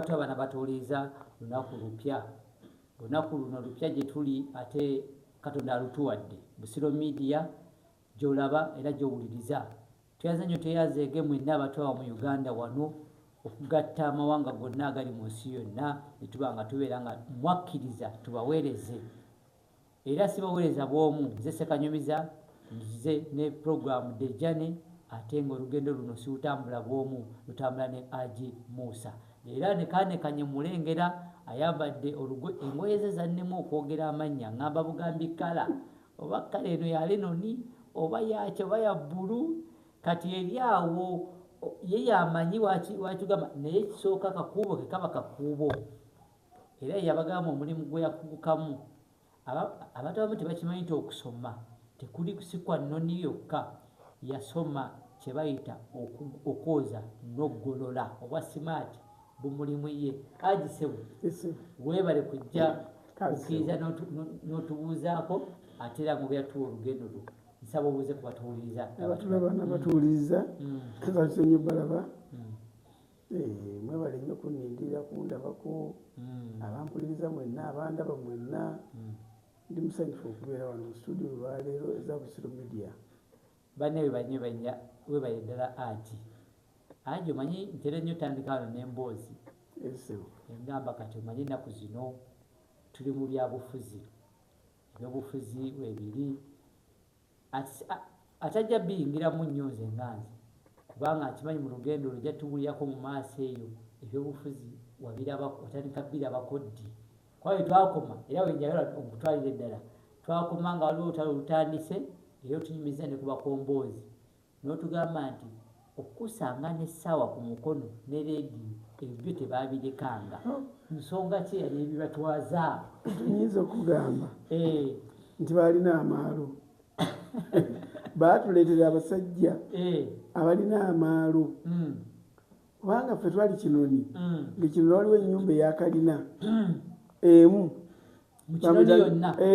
Lwatu abana batuuliiza lunaku lupya. Lunaku luno lupya gye tuli ate Katonda alutuwadde. Busiro Media gy'olaba era gy'owuliriza. Tweyaze nnyo tweyazeege mwenna abatwawa mu Uganda wano okugatta amawanga gonna agali mu nsi yonna ne tuba nga tubeera nga mwakkiriza tubaweereze. Era sibawereza bwomu nze sekanyumiza nze ne program the journey ate nga olugendo luno siutambula bwomu lutambula ne ag Musa era ne kanekanye mulengera ayambadde olugo engoye ze zannema okwogera amannya ngamba bugambi kala oba kala eno ya lenoni oba yaki oba ya bulu kati eri awo ye yamanyi wakigamba naye kisooka kakuubo kekaba kakuubo Era ye yabagamba omulimu gwe yakugukamu. Aba, abantu abamu tebakimanyi nti okusoma tekuli si kwa nnoni yokka. Yasoma kye bayita oku, okwoza n'oggolola. Obwa simaati bumulimu ye. Haji Ssebo, weebale kujja kukkiriza n'otubuuzaako ate era ng'obeera tuwa olugendo lwo. Nsaba obuuze ku batuwuliriza. Abatulaba n'abatuwuliriza, mm. mm. basenye balaba. Mm. Eh, mwebale nnyo kunnindirira kundabako hmm. abampuliriza mwenna abandaba mwenna hmm. ndi musanyufu okubeera wano mu studio olwaleero eza busiro media banne webanye banya webale ddala ati anji omanyi ntera nnyo tandika wano n'emboozi engamba kati omanyi ennaku zino tuli mu byabufuzi ebyobufuzi webiri Atajja biyingiramu nnyo nze nga nze kubanga nkimanyi mu lugendo olwo ojja tubulirako mu maaso eyo ebyobufuzi wabiraba watandika birabako ddi kuba we twakoma era wenjagala okutwalira eddala twakoma nga waliwo olutalo lutandise era otunyumiza ne ku bakomboozi N'otugamba nti okukusanga n'essaawa ku mukono ne leediyo ebyo byo tebaabirekanga, nsonga ki eyali ebibatwaza? Tuyinza okugamba nti baalina amaalo. Baatuleetera abasajja abalina amaalo kubanga ffe twali kinoni mm. ngekino waliwo enyumba eyakalina mm. emu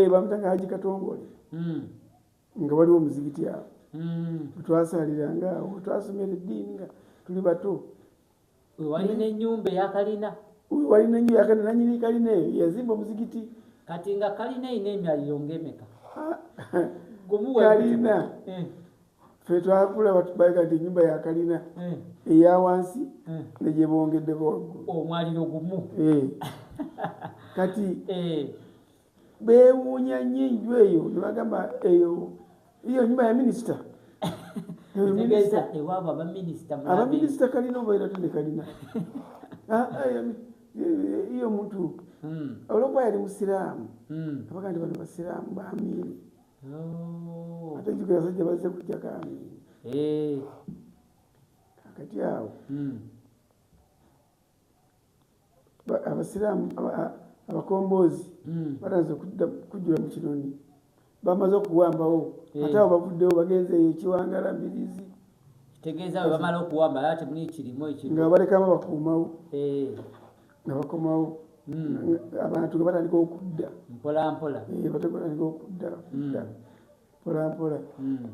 bamutanga eh, haji katongole mm. nga waliwo omuzikiti awo wetwasaaliranga awo wetwasomera eddiini nga tuli bato wewalina enyumba eyakalina wewalina enyumba yakalina nanyini kalina eyo yazimba omuzikiti kati nga kalina erina emyaliro ngaemeka kalina eh. fe twakula batubaika nti enyumba yakalina eh. eya wansi eh. negyebongeddeko waggulu omwaliro gumu kati beewuunya nnyo enju eyo ne bagamba eyo iyo nyumba ya minisita abaminisita kalina obaera tende kalina ah, ah, iyo muntu hmm. olwokuba yali musiraamu hmm. abaga nti bano basiraamu bamiini oh. ate njuga yasajja bazze kujja kamiini eh. kakati awo hmm. abasiraamu abakomboozi hmm. batanze kujjula mu kinoni bamaze okuwambawo eh. ate abo bavuddewo bagenze eyo ekiwangala mbirizi tegeeza bwe bamala okuwamba ala temuli ekirimu ekiri nga balekamu bakuumawo eh. nga bakomawo hmm. abantu nga batandika okudda mpolampola eh, batandika okudda hmm. mpolampola hmm.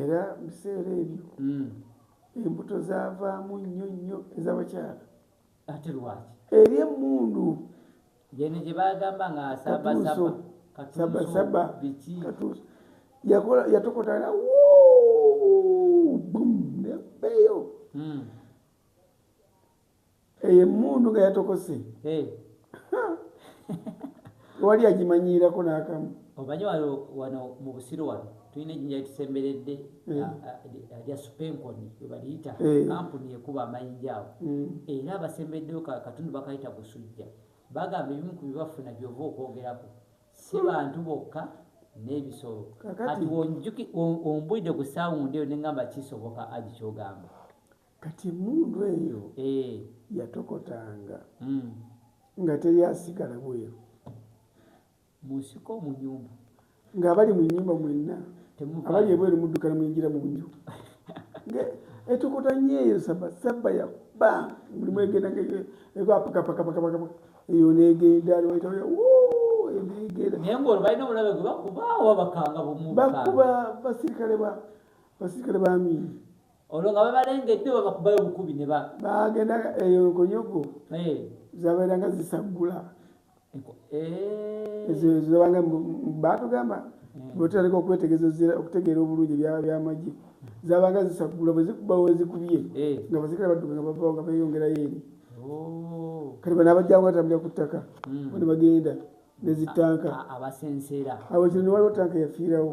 era biseera ebyo hmm. embuto zavaamu nnyo nnyo ezabakyala ate lwaki eri emundu yene gyebagamba nga sabasaba biki yakola yatokotala bum nebeyo hmm. eyo emmundu nga yatokose tewali agimanyiirako n'akamu omanyi wano wano mu busiro wano tulina ejinja litusemberedde eh. ah, ah, ah, lya supenkoni webaliyita eh. kampuni ekuba amayinja awo mm. era abasembereddeyo katundu bakayita busujja bagamba ebimu ku bibafuna byova okwogerako si hmm. bantu bokka n'ebisolo kati ombulidde ku saawundi eyo nengamba kisoboka agikyogamba Kati emmundu eyo yatokotanga nga teri asigala bweru munsiko omunyumba ng'abali mu nnyumba mwenna abali ebweru muddukana muyingira mu nju etokota nnyo eyo saba saba ya ba mulimu egenda ngegapakapakapakapaka eyo negenda lwaitaoya bakuba basirikale ba basirikale ba miini olwo nga babalengedde babakubayo obukubi ne ba bagenda eyo nkonyogo eh. zabeeranga zisaggula eh. ezo zibanga batugamba eh. bwetutandika okwetegeza okutegeera obulungi ebyaba byamagye zabanga zisaggula bwezikuba wezikubye nga bazikira badduka nga bavawo nga beyongerayo eri oh. kati bana abajjangu batambulira ku ttaka hmm. ne bagenda nezitanka abasenseera awo kino ne waliwo tanka yafiirawo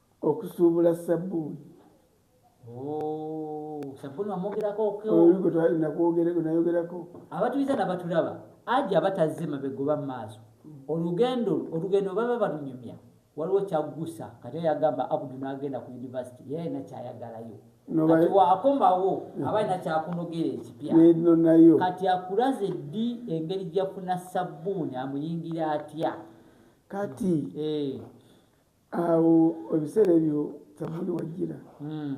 okusuubula sabbuuni nayogerako abatuliza nabatulaba aja abatazze mabega oba maaso olugendo olugendo baba balunyumya waliwo kyaggusa kati yagamba abudu nagenda ku univesity yalina kyayagalayo kati wakomawo aba alina kyakunogera ekipya kati akulaze ddi engeri gyafuna sabbuuni amuyingira atya kati eh. awo ebiseera ebyo kyavuli wajjira hmm.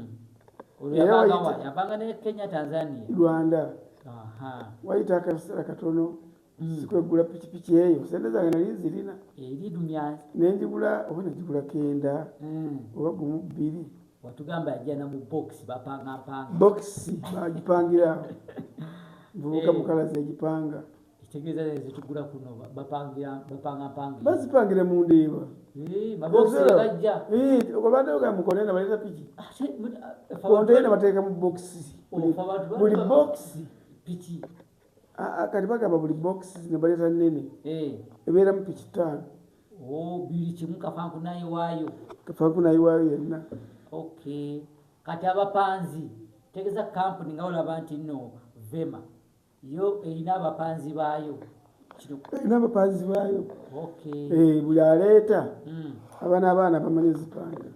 rwanda wayita akaseera katono hmm. sikwegula pikipiki eyo sente zange nali nzirina nenjigula oba najigula kenda hmm. oba gumu bbiri watugamba yajana mu box bapanga panga box bagipangira vubuka mukalazi yagipanga bazipangira mu ndeeba obadeoga mu kontena baleta piki kontena bateeka mu bokisi buli bokisi kati bagamba buli bokisi ne baleta nene ebeeramu piki taano kafankunayiwaayo yenna kati abapanzi tegeza kampuni nga olaba nti no vema yo erina abapanzi baayo erina abapanzi baayo eh, buli aleeta hmm. aba n'abaana bamanyi ezipanga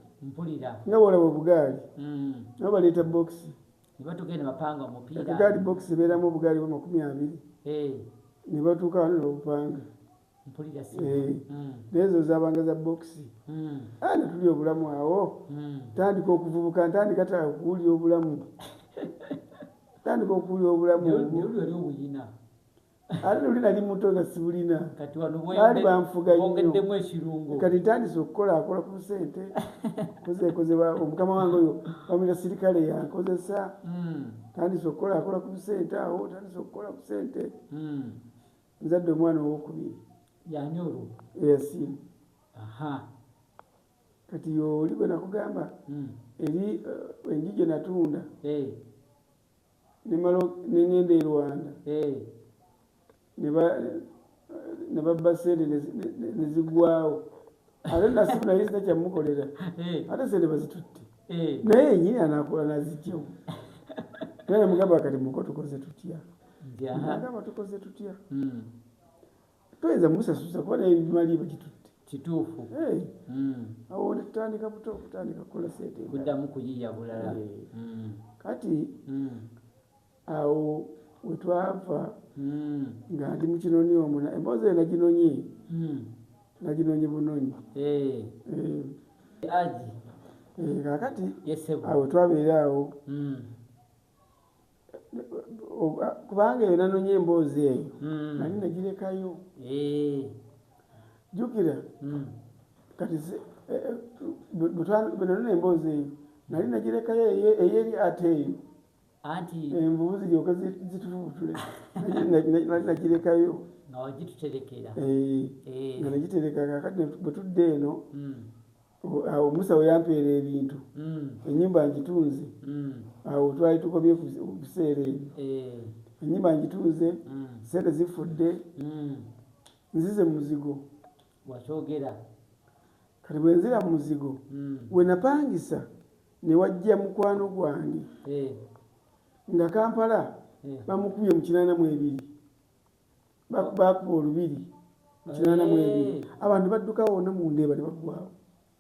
nga wolaba obugaali hmm. nabo baleeta bokisi egaali bokisi ebeeramu obugaali bwa makumi abiri eh. ne batuuka wano nobupanga Eh, hmm. nezo zabanga za bokisi hmm. ah, netuli obulamu awo hmm. tandika okuvubuka ntandika ta okuwulira obulamu tandika okuwulira obulamu ate noli nali muto nga sibulina baali banfuga nnyo kati ntandise okukola akola ku sente kozekozeba omukama wange oyo bamira sirikale yankozesa tandise okukola akola ku sente awo tandise okukola ku sente nzadde omwana owokubiri yani olwo eyasiimu aha kati yooli gwe nakugamba hmm. eri uh, enju gye natunda eh. nemala nengenda e rwanda eh. ne babba sente nezigwawo ate nasimu naye zita kyamukolera eh. ate sente bazitutte eh. naye enyini anakola nazijemu naye namugamba kati muko tukoze tutya agamba tukoze tutya hmm. toyinza musasuza kuba naye bimali bagitutte kituufu eh. hmm. awo tutandika buto kutandika kukola sente kudamu kuyiya bulala hmm. kati awo wetwava hmm. nga ndi mukinoni omu emboozi eyo naginonye hmm. naginonye bunonyi eh. Eh. aji eh, kakati awo twabeera awo hmm. kubanga eyo nanonye emboozi eyo nali nagirekayo jukira kati bwenanona emboozi eyo nali nagirekayo eyeri ate eyo anti envubu ziryoka zitufubutule nakirekayo nga wagituterekera eh, eh. nga nagitereka kakati bwe tudde eno hmm. awo musa weyampeera ebintu hmm. enyumba ngitunze hmm. awo twali tukomye okuseera ebyo eh. enyumba ngitunze sente zifudde nzize muzigo Wakyogera. Kati bwe nzira mu muzigo we napangisa ne wajja mukwano gwange nga Kampala bamukubye mu kinaana mu ebiri bakuba olubiri mu kinaana mu ebiri abantu badduka wonna mu ndeeba ne baggwawo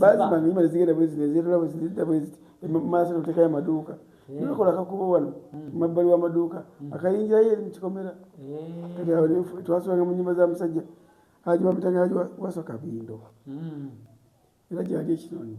bazimanyi imali zigenda bwezi nezirala bwezi nezidda bwezi maaso notekayo amaduuka nebakola akakuba wano mabbali wamaduuka akayingirayo eri mukikomera twasulanga mu nyumba za musajja haji bamitanga haji wasoka bindo era gyali ekinoni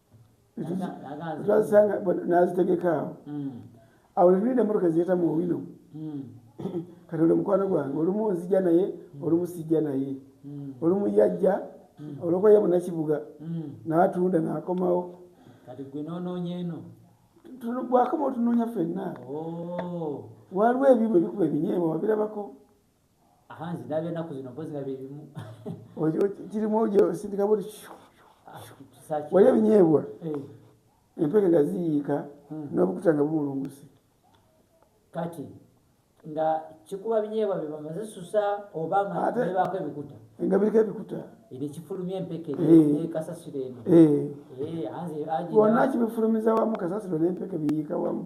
twazisanga nazitegeka awo hmm. awo netulinda emotoka ziyeta mu owino hmm. kati oli mukwano gwange olumu nzija naye hmm. olumu sijja naye olumu yajja olwokuba ye munakibuga natunda nakomawo kati gwe nononya eno bwakoma otunoonya fenna oh. waliwo ebibwa ebikuba ebinyeebwa wabirabako aha nze ndaba enaku zino mpozi nga byebimu kirimu osindika buli wali ebinyeebwa eh. empeke nga ziyiika hmm. n'obukuta nga bumulunguse kati nga kikuba binyeebwa bye bamaze susa oba nga bebaako ebikuta nga biriko ebikuta eri kifulumya empeke eh. kasasiro eno eh. wonna kibifulumiza wamu kasasiro n'empeke biyiika wamu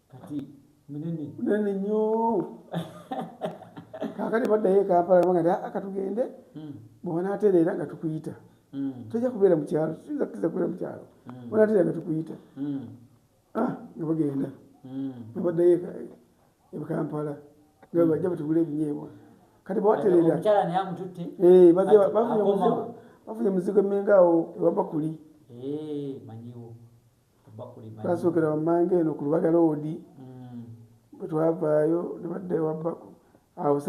kati munene munene nnyo kakati baddayo ekampala banga ti akatugende hmm. bwebanatereera nga tukuyita hmm. tojja kubeera mukyalo tuyinza kukiza kubeera mukyalo hmm. bwanatereera nga tukuyita ah, nga bagenda nga baddayo ekampala nga bajja batugula ebinyeebwa kati bwatereera eh, bafunye muzigo emenga awo ewabakuli eh, twasokera wammanga eno ku lubaga loodi mm. bwe twavaayo ne badda ewa baku awo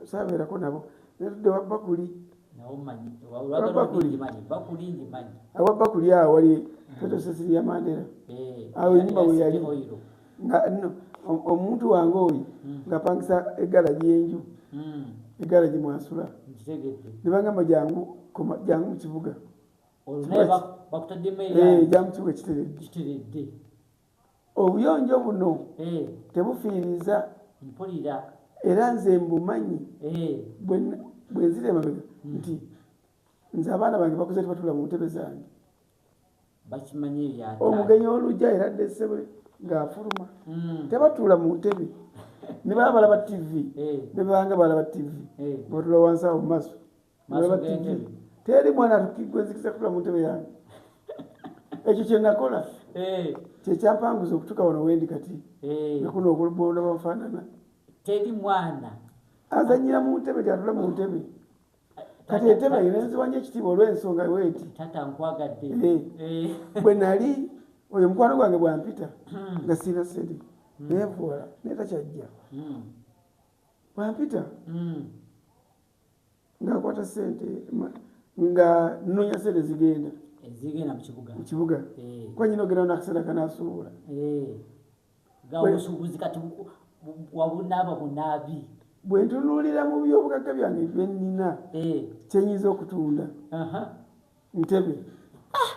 saabeerako nabo ne tudda ewa bakuli awa bakuli awo wali fetosesiri mm. ya mandera eh, awo enyumba we yali nga no omuntu wange oyo mm. ngapangisa egala gyenju egala gyemwasula nebagamba jangu jangu mukibuga jamukiwa ekiteredde obuyonjo buno eh. tebufiiriza mpulira era nze mbumanyi eh. bwenzira emabega hmm. nti nze abaana bange bakuze tibatula mu ntebe zange omugenyi olujja era ddesebwe ng'afuluma hmm. tebatuula mu ntebe ne baba balaba tivi eh. ne bebanga balaba tivi batula wansi awo mu maaso teri mwana atukigwenzikisa kutula mu ntebe yange ekyo kyenakola eh. kyekyampanguza okutuka wano wendi kati eh. nakuno okulubonda bafaanana teri mwana azanyira mu ntebe gyatula mu ntebe kati entebe erenziwanyo ekitiibwa olwensonga weti eh. bwe nali oyo mukwano gwange bwampita hmm. nga siina sente hmm. nevuwala naye takyajja hmm. bwampita ngakwata sente nga nonya sente zigenda zigenda mukibuga mukibuga eh. kuba nyina ogenda nakasente kanasuubula eh. nga obusuubuzi kati wabunaaba bunaabi bwe ntunuulira mu byobugagga byange bye nnina eh. kyenyinza okutunda ntebe ah!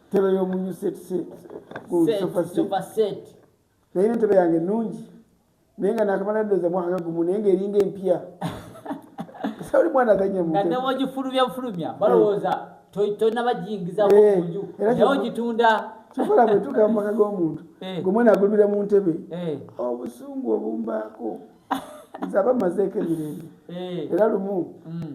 ntebe y'omunyusetise ku sofa set naye nentebe yange nungi naye nga nakamala ndoza mwaka gumu naye nga eringa empya sauli mwana azanyamugifulumya bufulumya eh. balowooza tonabajingizamunju eh, naye ogitunda kikola bwetuka mumaka gomuntu eh. gomwana agulumira mu ntebe obusungu obumbaako nze aba mazeeko emirembe era lumu mm.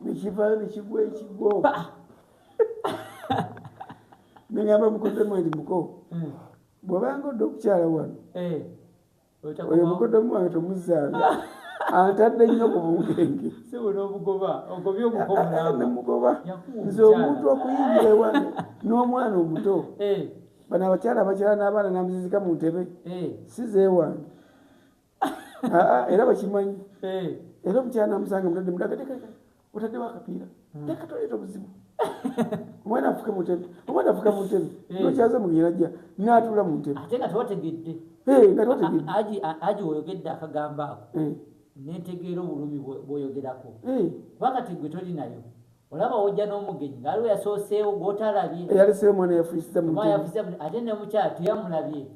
nekivayo nekigwa ekigo nengamba mukodemu andi muko hmm. bwobanga odde okukyala wano eh. oyo mukodemu wange tomuzaala antadde nnyo ku bunkenge nemugoba nze omuntu okuyingira ewange n'omwana omuto eh. bano abakyala abakyala n'abaana namuzizika mu ntebe eh. sizeewange era bakimanyi era omukyana amusanga mutadde mudagaeka otaddewo akapiira hmm. tekatoleeta obuzibu omwana afuke mutebe omwana afuka mutebe nokyaza mugerajja natula mutebe nga tewategedde aji oyogedde akagambo ako netegeera obulumi bwoyogerako wakati gwe toli nayo olaba ojja n'omugenyi ngaaliwo yasooseewo gwotalabye yaliseewo omwana yafuisiza ate nemukyala teyamulabye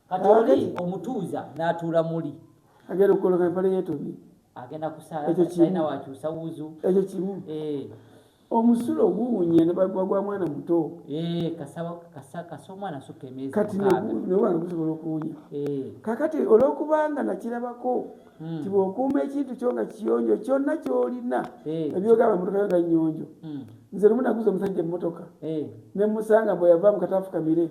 kati oli omutuuza n'atuula muli agenda okukoloka empale yeetoni agenda kusaalaina wakyusa wuzu ekyo kimu eh. omusulo oguwunya nebagwa mwana muto eh, kasa omwana soka emyezi kati nobwana gusobola okuwunya eh. kakati olwokubanga nakirabako hmm. ti bwokuuma ekintu kyo nga kiyonjo kyonna kyolina ebyogamba motoka yo nga nyonjo hmm. nze lumu naguza omusajja emotoka nemusanga mbweyava mukatafukamire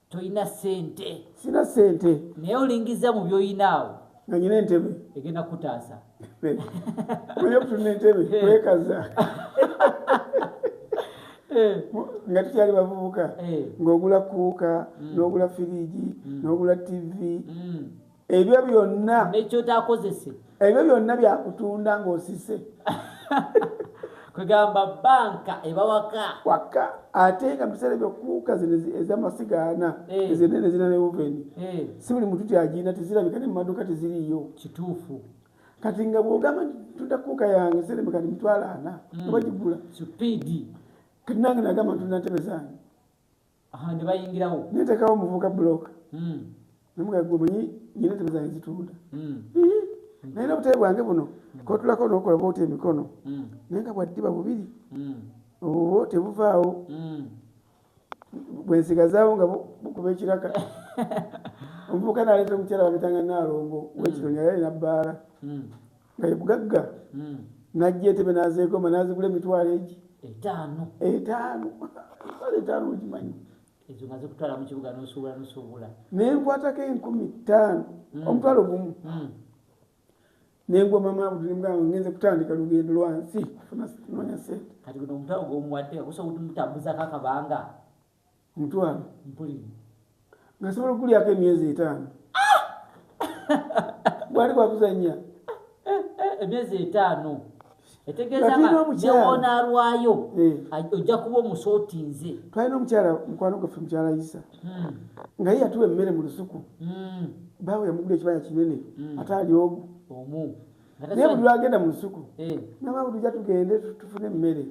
tolina sente sina sente naye olingiza mu byoyinaawo nga nyina entebe egenda kutaasa omanyi okutulina entebe eh. kwekaza eh. nga tukyali bavubuka eh. ng'ogula kuuka mm. n'ogula firiigi mm. n'ogula tivi mm. ebyo byonna nekyotakozese ebyo byonna byakutunda ng'osise kwegamba banka ebawaka waka ate nga mubiseera byokuuka zino ezamasiga ana eh. ezenene zina ne oveni eh. si buli muntu tyagina tezirabika ne mumaduka teziriyo kituufu kati nga bwogamba ntunda kuuka yange seremeka ni mitwalo ana hmm. obagigula supidi kati nange nagamba ntunda ntebe zange nebayingirawo netekawo muvuka blok hmm. nemugagwemanyi nyina entebe zange zitunda hmm. naye nobutebe bwange buno hmm. kotulako nokola bwoti emikono naye nga bwaddiba bubiri obwo tebuvaawo bwensigazaawo nga bukuba ekiraka omuvuka naleeta omukyala wamitanga nalongo wekitoni yali alina bbaala nga ye mugagga hmm. najja entebe nazeegoma nazigula emitwalo egi etaano etaano mitwalo etaano ogimanyi ezo nga zikutwala mu kibuga nosuubula nosuubula naye nkwatako enkumi ttaano hmm. omutwalo gumu hmm. nengwa mama abudulembwange ngenze kutandika lugendo lwansi nonya sente kati guno omutwalo gwomuwadde gusobola okumutambuzako akabanga omutwalo nga sobola okugulyako emyezi etaano bwali bwakuzanya emyezi etaano etegeezaonalwayo eh. ojja kuba omusootinze twalina omukyala mukwano gaffe mukyala isa hmm. nga ye yatuwa emmere mu lusuku hmm. baawe yamugula ekibaya kinene hmm. ate ali ogu omu naye buli lwagenda mu lusuku eh. nabaawe tujja tugende tufune emmere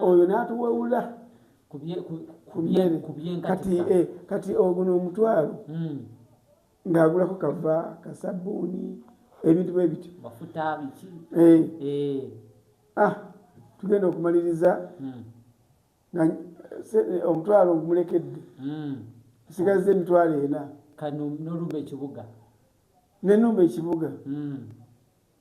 oyo n'atuwewula kati eh, kati oguno omutwalo hmm. ng'agulako kava kasabbuuni ebintu bwe bityo eh. eh. ah, tugenda okumaliriza hmm. omutwalo ogumulekedde hmm. nsigazza emitwalo ena nenumba ekibuga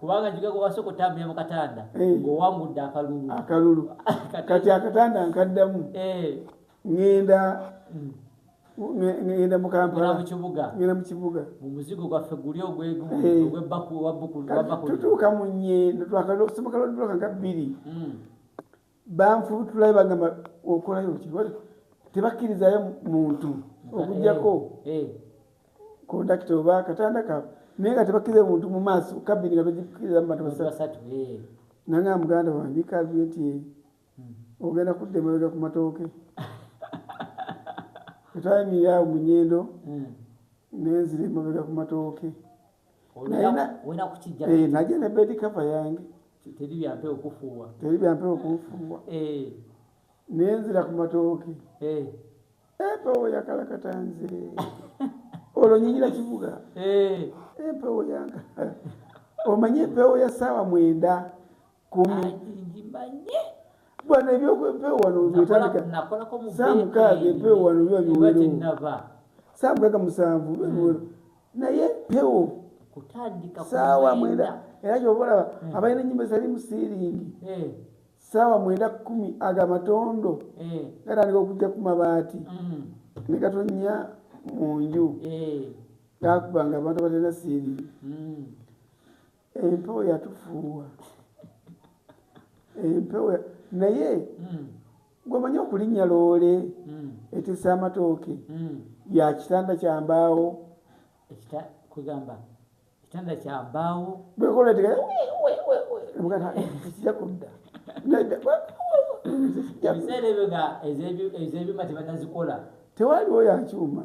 kubanga kigaga wasoka otambulira mu katanda eh. ng'owangudde akalulu akalulu kati akatanda nkaddamu eh. ŋŋenda mm. ŋŋenda mu kampala ŋŋenda mu kibuga mu muzigo gwaffe guli ogwegwebbakututuuka eh. mu nnyendo twakalosoboka lwodduloka nga bbiri mm. banfubutulayo bagamba okolayo ki tebakkirizayo muntu okujjako eh, eh. kondakita oba katanda kaabwe naye nga tebakkiriza muntu mu maaso kabini nga bagikkiriza mu bantu basatu eh. nanga muganda wange kalbi nti hmm. ogenda kudda emabega ku matooke etwayimirirawo mu nyendo hmm. nenzira emabega ku matooke eh, naje ne bedi kava yange teri byampe okufuuwa teri byampe okufuuwa eh. nenzira ku matooke eh. empewo yakalakata nze olwo nyinyira kivuga empewo yanga omanyi empewo ya saawa mwenda kumi bwana ebyokwempewo wano byetandikasamukaaga empewo wano biba biwerewo samukaaga musanvu biba biwerewo hmm. naye empewo saawa mwenda era kyobalaba hmm. abalina enyumba ezali musiringi eh. saawa mwenda kumi ago amatondo eh. gatandika okujja ku mabaati hmm. negatonya mu nju eh. gakubanga abantu abalina siringi empewo yatufuuwa empewo naye hmm. gwemanyi okulinnya loole hmm. etisa amatooke hmm. ya kitanda kyambaawo kwegamba kitanda kyambaawo bwekola tekija kudda ebiseera ebyo nga ezebyuma tebanazikola tewaliwo yakyuma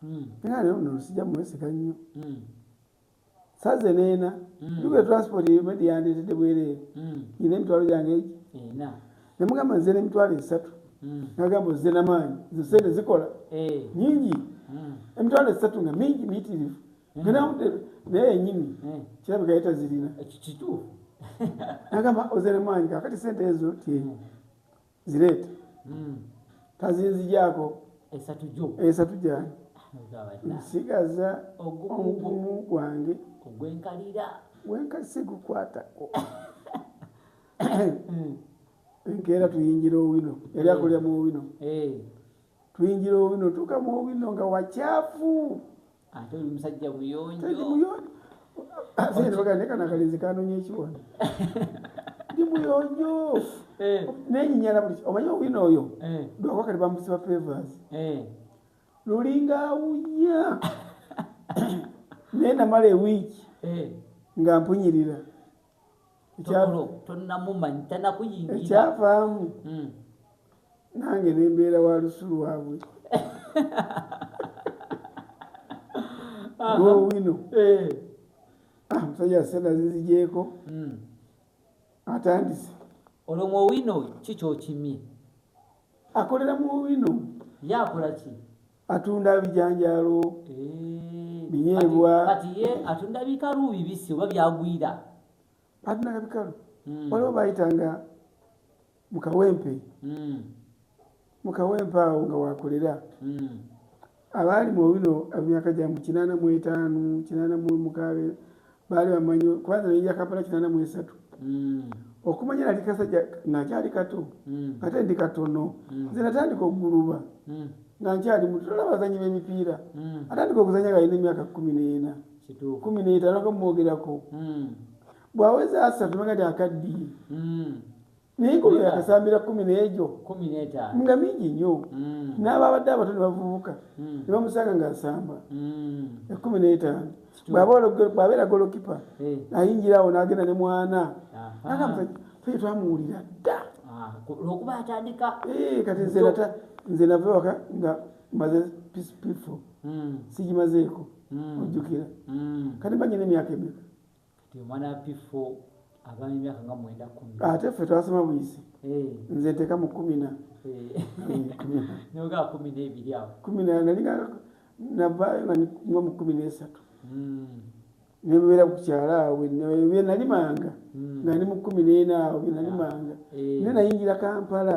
hmm. naye ate ono sijja mwesiga nnyo hmm. saze neena nduga hmm. transport medi yandeetedde bwereere ina emitwalo gyange egi nemugamba nze nemitwalo esatu nagamba ozze namaanyi nze sente zikola eh. nyingi emitwalo esatu nga mingi miyitirivu naye yenyini kirabika yetazirina nagamba ozze namaanyi kakati sente ezo tyenyi zireeta hmm. kazinzijaako esatu gyo esatu gyange nsigaza ogumu gwange ogwenkalira gwenkali sigukwatako hmm. enkeera tuyingira owino yali hmm. akulira mu owino eh. tuyingira owino tuka mu owino nga wakyafu ate oli musajja buyonjo kanakalinzi kanonya ekiwona ndi muyonjo eh. nenyinyala buli omanyi owina oyo eh. dwako kati bamusiba favors eh. lulinga awunya naye namala ewiiki nga mpunyirira ekyavaamu hmm. nange nembeera wa lusu lwabwe gowino eh. ah, musajja sena zizijeeko hmm. atandise olwo mu owino ki kyokimye akolera mu owino yakolaki atunda bijanjaalo eh, binyeebwa kati ye atunda bikalu bibisi oba byagwira atunda bikalu hmm. waliwo bayitanga mukawempe hmm. mukawempe awo nga wakolera hmm. abaali mu bino emyaka gya mu kinaana mu etaano kinaana mu mukaabe baali bamanyi kubanga nayinja kampala kinana mu esatu hmm. okumanya nali kasajja nakyali kato hmm. ate ndi katono hmm. nze natandika okuguluba nga nkyali mutola abazanyi b'emipiira atandika okuzanya galina emyaka kumi n'ena kumi n'etaano kamumwogerako bwaweza asatu manga ti akaddiye naye kumi nakasambira kumi nejo nga mingi nyo mm. n'ababadde abato ne bavubuka mm. ne bamusanga ng'asamba mm. ekumi n'etaano bw'abeera golokipa eh. ayingira awo n'agenda ne mwana namusajja twamuwulira dda ah, olwokuba atandika eh, kati nze nava waka nga maze pifo sigimazeeko ojjukira kati mbanye n'emyaka emeka ate ffe twasoma buyisi eh. nze nteka mu kumina eh. kuminalinanaligango mu kumi nesatu hmm. nebeera ku kyalo awo byenalimanga hmm. nga ndi mu kumi nena awo byenalimanga ah, eh. ne nayingira kampala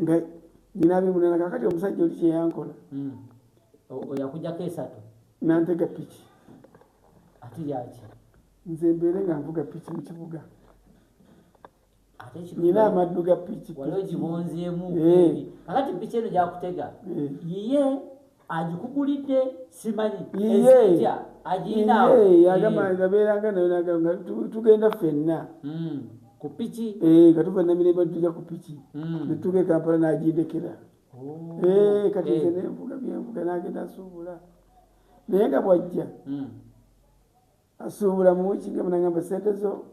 nga nyina abimunana kakati omusajja oli kyeyankola oyakujako esatu nantega piki ati yaki nze mbeere nga nvuga piki mu kibuga nyina amaddu ga piki wali ogibunzeemu eh. kakati piki eno gyakutega eh. yiye agikugulidde simanyi ezitya agiyinaawo yagamba nga beeranga nayo nagamba nga tugenda ffenna hmm. ku piki eh, nga tuva namirembe tuja ku piki hmm. netutuuka e kampala nagindekera oh. eh, kati nze eh. nenvuga byenvuga nagenda asuubula naye nga bwajja hmm. asuubula mu wiiki nga munagamba sente zo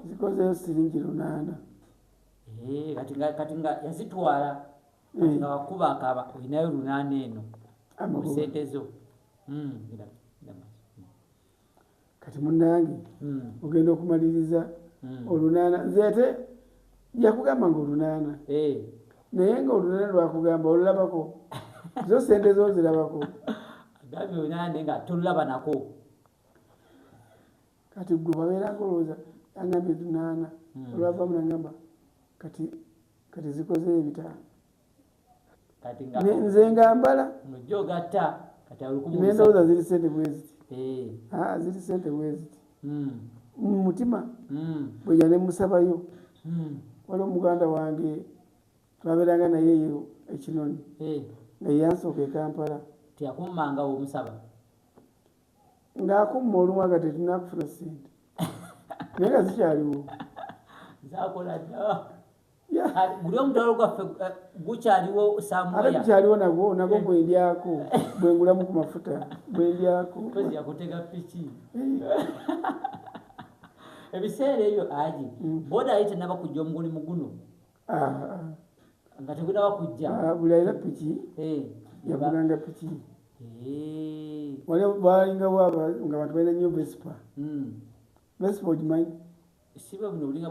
zikozeyo siringi lunaana kati nga yazitwala kati nga wakuba akaba olinayo lunaana eno mu sente zo hmm, kati munange hmm. ogenda okumaliriza hmm. olunaana nzeete yakugamba nga olunaana eh. naye nga olunaana lwakugamba olulabako zo sente zo zirabako agambye olunaana naye nga tolunabanako kati gwe wabeeranga olowooza yangambye dunaana hmm. olwavamu nangamba kati kati zikoze ebitaano nze ngambala nendowooza ziri sente bweziti eh. ah, ziri sente bweziti hmm. mumutima hmm. bweja nemusabayo waliwo muganda wange twabeeranga naye eyo ekinoni eh. nga yansooka ekampala teyakummangawo omusaba ng'akumma olumu aga tetulina kufuna ssente naye nga zikyaliwo guli omutwalo gwaffe eh, gukyaliwo samuate gukyaliwo nagwo nagwo eh. bwendyako bwengulamu ku mafuta bwendyako yakutega piki eh. ebiseera ebyo aji mm. boda ayi tenaba kujja omugulimu guno nga tegunaba kujja ah, buli alina piki eh, yagulanga piki eh. waliwo balingawo nga bantu balina nyo vespa hmm. vespa ogimanyi siba buno bulinga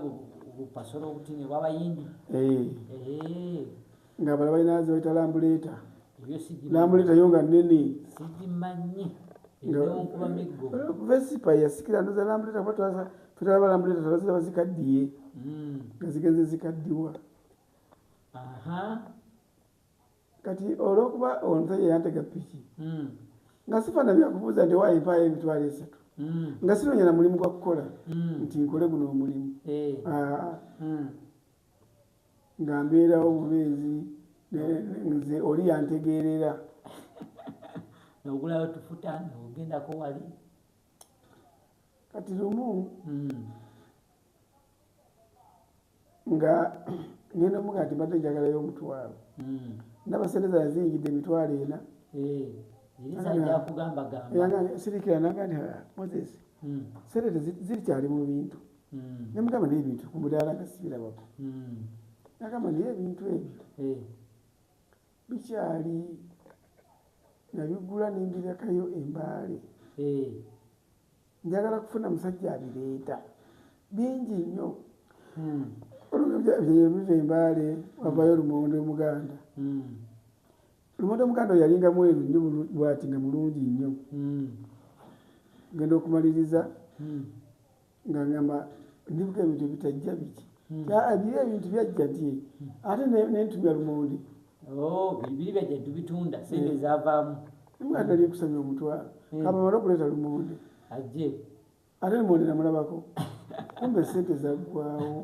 bupasolo obutini bwabayindi eh. nga bala balina zebaita lambuleeta lambuleeta yo nga nene sigimanyi vespa yasikira ndoza lambuleeta kuba twaza Fetala balambula etatala ziraba zikaddiye hmm. nga zigenze zikaddiwa. Kati olwokuba omusajja yantega piki hmm. nga sifana byakubuuza nti waayo empaayo emitwalo esatu hmm. nga sinoonya na mulimu gwa kukola nti nkole guno omulimu eh. ah. nga mbeerawo bubeezi nze oli yantegeerera nogulayo tufuta nogendako wali kati lumu hmm. nga ngenda muga nti mbadde njagalayo omutwalo hmm. nabasente zala ziyingidde emitwalo ena eh, sirikira naga nti ah, moses hmm. sente zirikyali mu bintu nemugamba naye ebintu ku mudaala nga sibirabako nagamba naye ebintu ebyo eh. Bikyali nabigula nembirekayo embaale eh. njagala kufuna musajja abireeta bingi nnyo hmm. olubyebiva embaale wavayo lumonde omuganda hmm. lumonde omuganda oyalinga mweru nnyo bwati nga mulungi nnyo hmm. genda okumaliriza nga ngamba ndibuka ebintu ebitajja biki hmm. biri ebintu byajja ti hmm. ate nentumya lumonde oh, biri byajja tubitunda sente hmm. zavaamu mwana ali kusanya omutwalo kamamala okuleeta lumonde ajje ate lumonde namulabako kumbe sente zaggwawo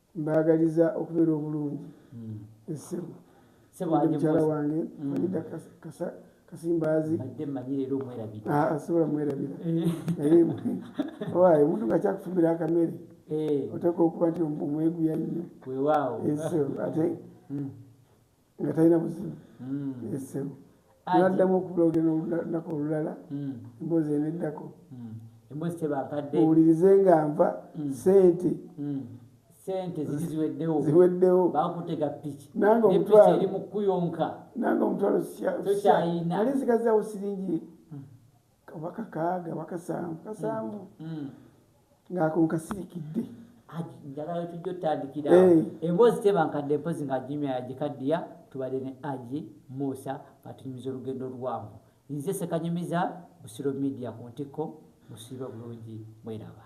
Mbagaliza okubera obulungi esebo mukyala wange Farida kasa kasimbazi asobola mwerabira naye owaye omuntu nga kyakufumira akamere oteeka okuba nti omweguya nnyo eso ate nga talina buzibu hmm. esebo naddamu okubuloge nolunaku olulala hmm. emboozi eneddako hmm. emboozi tebakadde owulirize nga nva sente sente ziri ziweddewo ziweddewo bakutega piki nange omutwalo eri mukuyonka nange omutwalo sikyayina ali zikazawo siringi oba kakaaga oba kasanvu kasanvu mm. mm. ng'ako nkasirikidde njagala tujja otandikira eh. emboozi tebankadde mpozi nga jimya yagikaddiya tubadde ne aji muusa batunyumiza olugendo oluwanvu nze sekanyumiza busiro media ku ntikko musiiba bulungi mweraba